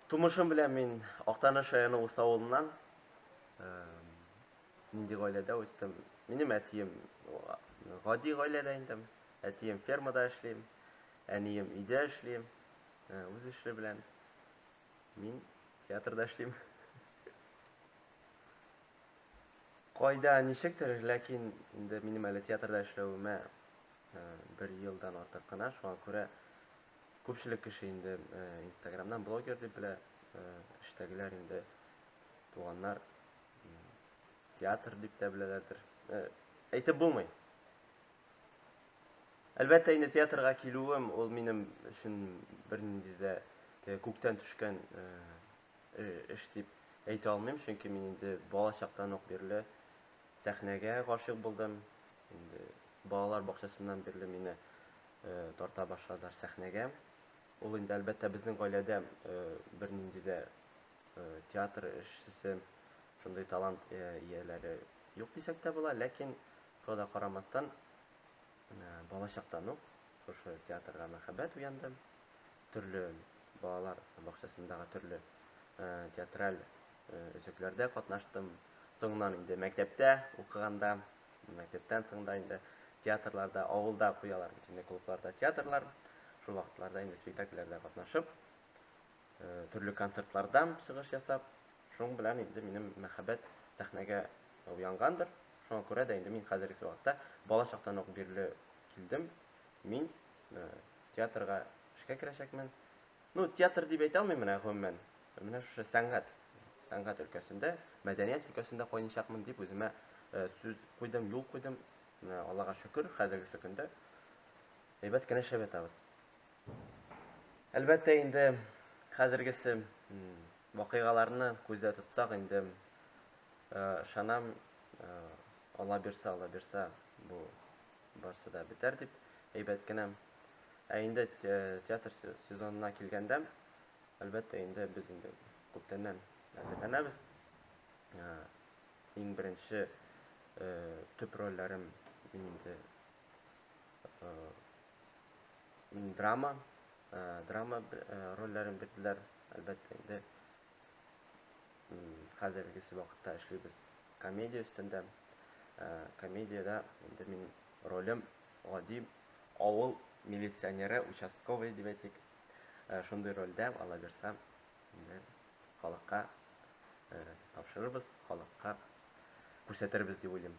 Тумышым белән мин Актаныш районы Усы авылыннан. Нинди гаиләдә үстем? Минем әтием гади гаиләдә инде. Әтием фермада эшлим, әнием өйдә эшли, үз эше белән. Мин театрда эшлим. Кайда ничектер, ләкин инде минем әле театрда эшләвемә бер елдан артык кына, шуңа күрә Күпчелек кеше инде инстаграмнан блогер дип белә, эштәгеләр инде туганнар театр дип тә беләләрдер. Әйтеп булмый. Әлбәттә инде театрга килүем ул минем өчен бернинди дә күктән төшкән эш дип әйтә алмыйм, чөнки мин инде бала чактан ук бирле сәхнәгә гашыйк булдым. Инде балалар бакчасыннан бирле мине тарта башладылар сәхнәгә. Ул инде, әлбәттә, безнең гаиләдә бернинди дә театр эшчесе, шундый талант ияләре юк дисәк тә була, ләкин шуңа да карамастан, балачактан ук шушы театрга мәхәббәт уянды. Төрле балалар бакчасындагы төрле театраль өзекләрдә катнаштым. Соңыннан инде мәктәптә укыганда Мәктәптән соң да инде театрларда, авылда куялар бит инде клубларда театрлар. Шул вакытларда инде спектакльләрдә катнашып, э, төрле концертлардан чыгыш ясап, шуның белән инде минем мәхәббәт сәхнәгә уянгандыр. Шуңа күрә дә инде мин хәзерге вакытта бала чактан ук бирле килдем. Мин э, театрга эшкә керәчәкмен. Ну, театр дип әйтә алмыйм менә гомумән. Менә шушы сәнгать, сәнгать өлкәсендә, мәдәният өлкәсендә кайнычакмын дип үземә э, сүз куйдым, юл куйдым. Менә Аллага шөкер, хәзерге көндә әйбәт кенә шәп ятабыз. Әлбәттә инде хәзергесе вакыйгаларны күздә тотсак инде э, ышанам, э, Алла бирса, Алла бирса, бу барсы да бетәр дип, әйбәт кенә. Ә инде театр сезонына килгәндә, әлбәттә, инде без инде күптәннән әзерләнәбез. Иң беренче төп рольләрем инде драма, драма рольләрен бирделәр, әлбәттә, инде хәзергесе вакытта эшлибез комедия өстендә. Комедиядә инде мин ролем гади авыл милиционеры, участковый дип әйтик. Шундый рольдә ала бирсә, инде халыкка тапшырырбыз, халыкка күрсәтербез дип уйлыйм.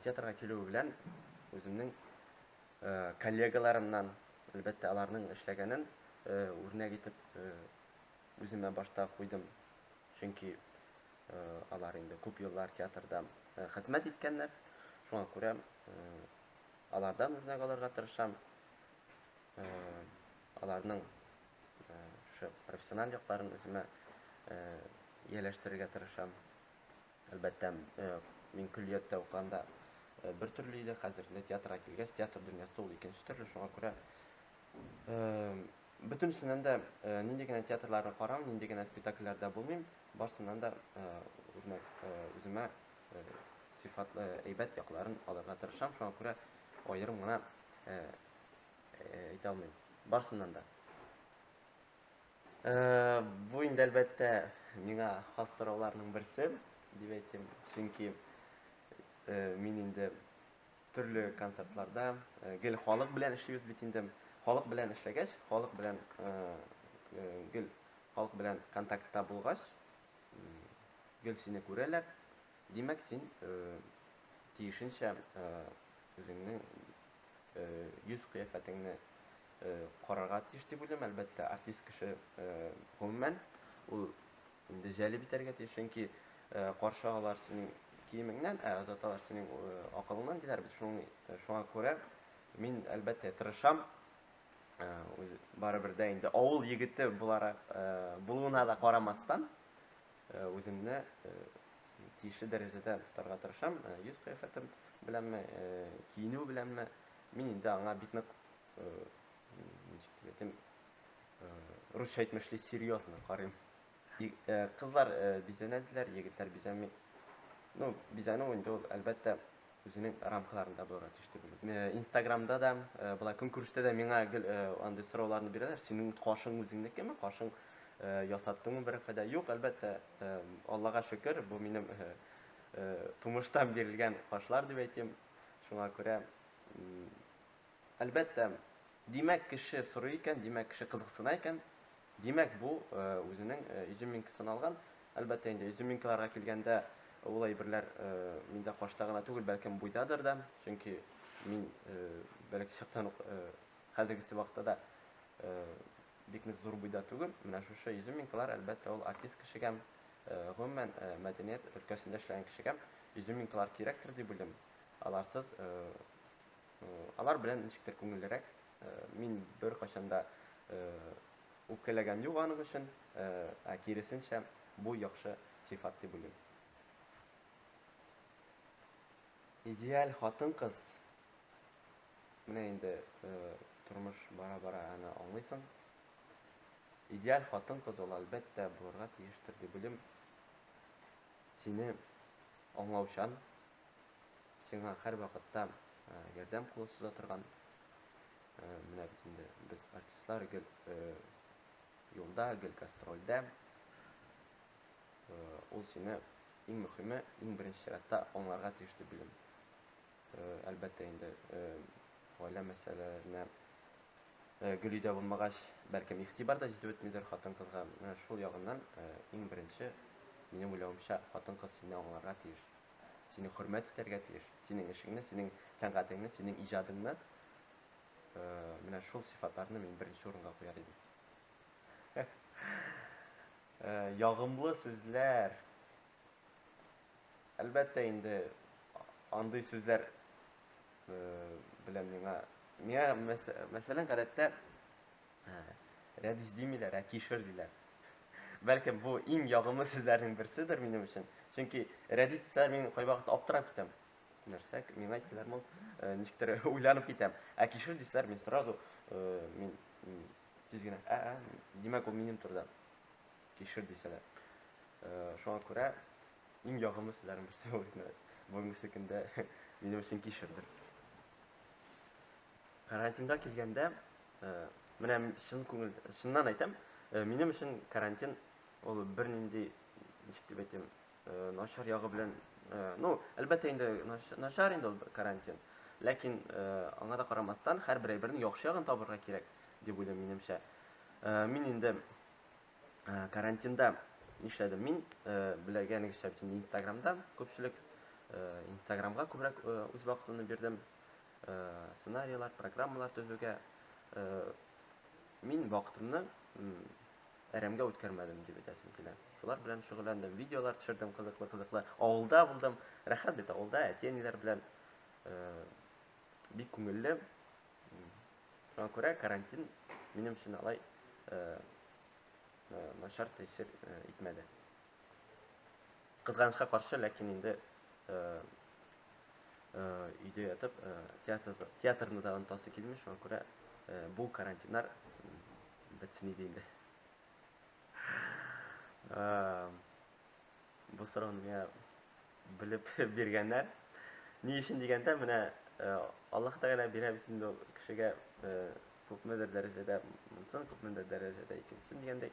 Театрга килү белән үземнең коллегаларымнан, әлбәттә, аларның эшләгәнен үрнәк итеп үземә башта куйдым, чөнки алар инде күп еллар театрда хезмәт иткәннәр, шуңа күрә алардан үрнәк алырга тырышам, аларның профессиональ якларын үземә ияләштерергә тырышам. Әлбәттә, мин көллияттә укыганда бер төрле иде, хәзер театрга килгәч, театр дөньясы ул икенче төрле, шуңа күрә Бөтенесеннән дә нинди генә театрларны карам, нинди генә спектакльләрдә булмыйм, барсыннан да үземә сыйфатлы, әйбәт якларын алырга тырышам. Шуңа күрә аерым гына әйтә алмыйм. Барсыннан да. Бу инде әлбәттә миңа хас сорауларның берсе, дип әйтим. Чөнки мин инде Төрле концертларда гел халык белән эшлибез бит инде. Халык белән эшләгәч, халык белән гел халык белән контактта булгач, гел сине күрәләр. Димәк, син тиешенчә үзеңнең йөз кыяфәтеңне карарга тиеш дип уйлыйм. Әлбәттә, артист кеше гомумән ул Инде җәлеп итәргә тиеш, чөнки каршы алар синең киемеңнән, ә озаталар синең акылыңнан, диләр бит. Шуңа күрә мин, әлбәттә, тырышам. Барыбер дә инде авыл егете буларак булуына да карамастан, үземне тиешле дәрәҗәдә тотарга тырышам. Йөз кыяфәтем беләнме, киенү беләнме, мин инде аңа бик нык, ничек дип әйтим, Русча әйтмешли серьезно карыйм. Э, кызлар э, бизәнәделәр, егетләр бизәми. Ну, бизәнү инде ул әлбәттә үзенең рамкаларында булырга тиеш дип уйлыйм. Э, Инстаграмда да, былай көнкүрештә дә миңа гел андый сорауларны бирәләр. Синең кашың үзеңнекеме? Кашың ясаттыңмы бер файда? Юк, әлбәттә, Аллага шөкер, бу минем тумыштан бирелгән кашлар дип әйтим. Шуңа күрә әлбәттә Димәк, кеше сорый икән, димәк, кеше кызыксына икән, димәк, бу үзенең изюминкасын алган. Әлбәттә инде, изюминкаларга килгәндә, ул әйберләр миндә кашта гына түгел, бәлкем буйдадыр да, чөнки мин бәләкәй чактан ук хәзергесе вакытта да бик нык зур буйда түгел. Менә шушы изюминкалар, әлбәттә, ул артист кешегә, гомумән, мәдәният өлкәсендә эшләгән кешегә изюминкалар кирәктер дип уйлыйм. Аларсыз Алар белән ничектер күңеллерәк. Мин бер качанда үпкәләгән юк аның өчен, ә киресенчә, бу яхшы сыйфат дип уйлыйм. Идеаль хатын-кыз менә инде тормыш бара-бара аны аңлыйсың. Идеаль хатын-кыз ул әлбәттә булырга тиештер дип уйлыйм. Сине аңлаучан, Сиңа һәрвакытта ярдәм кулы суза торган менә бит инде без артистлар гел юлда, гел гастрольдә. Ул сине иң мөхиме, иң беренче чиратта аңларга тиеш дип беләм. Әлбәттә инде гаилә мәсьәләләренә гел өйдә булмагач, бәлкем игътибар да җитеп бетмидер хатын-кызга. Менә шул ягыннан иң беренче, минем уйлавымча, хатын-кыз сине аңларга тиеш. Сине хөрмәт итәргә тиеш. Синең эшеңне, синең сәнгатеңне, синең иҗадыңны э, менә шул сифатларны мин беренче урынга куяр идем. Э, ягымлы сүзләр. Әлбәттә инде андый сүзләр э, белән миңа миңа мәсәлән гадәттә Ә, рәдис димиләр, ә кишер диләр. Бәлкем бу иң ягымлы сүзләрнең берседер минем өчен. Чөнки рәдис дисәләр мин кайвакыт аптырап китәм. Нәрсә, миңа әйттеләр мул, э, ничектер уйланып китәм. Ә кишер дисәләр мин сразу э, мин м, тиз генә, ә, ә, димәк ул минем турыда. Кишер дисәләр. Э, Шуңа күрә иң ягымлы сүзләрнең берсе ул инде. Бүгенгесе көндә минем өчен кишердер. Карантинга килгәндә, менә чын күңел, чыннан әйтәм, минем өчен карантин ул бернинди, ничек дип әйтим, начар ягы белән, ну, әлбәттә инде начар инде ул карантин. Ләкин аңа да карамастан, һәрбер әйбернең яхшы ягын табырга кирәк, дип уйлыйм минемчә. Мин инде карантинда нишләдем? Мин беләгәнегезчә, инстаграмда күпчелек инстаграмга күбрәк үз вакытымны бирдем. сценарийлар, программалар төзүгә мин вакытымны әрәмгә үткәрмәдем дип әйтәсем килә. Шулар белән шөгыльләндем, видеолар төшердем кызыклы-кызыклы. Авылда булдым, рәхәт бит авылда, әти-әниләр белән бик күңелле. Шуңа күрә карантин минем өчен алай начар тәэсир итмәде. Кызганычка каршы, ләкин инде өйдә ятып, театр, театрны да онтасы килми, шуңа күрә бу карантиннар бетсен иде инде. Бу сорауны миңа белеп биргәннәр. Ни өчен дигәндә, менә Аллаһ Тәгалә бирә бит инде кешегә күпмедер дәрәҗәдә монсын, күпмедер дәрәҗәдә икенчесен дигәндәй.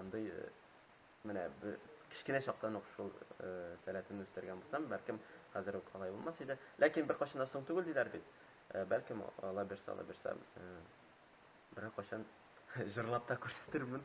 Андый менә кечкенә чактан ук шул сәләтемне үстергән булсам, бәлкем хәзер үк алай булмас иде. Ләкин бер кашына соң түгел диләр бит. Бәлкем ала бирсә, ала бирсә, бер кашын җырлап та күрсәтермен.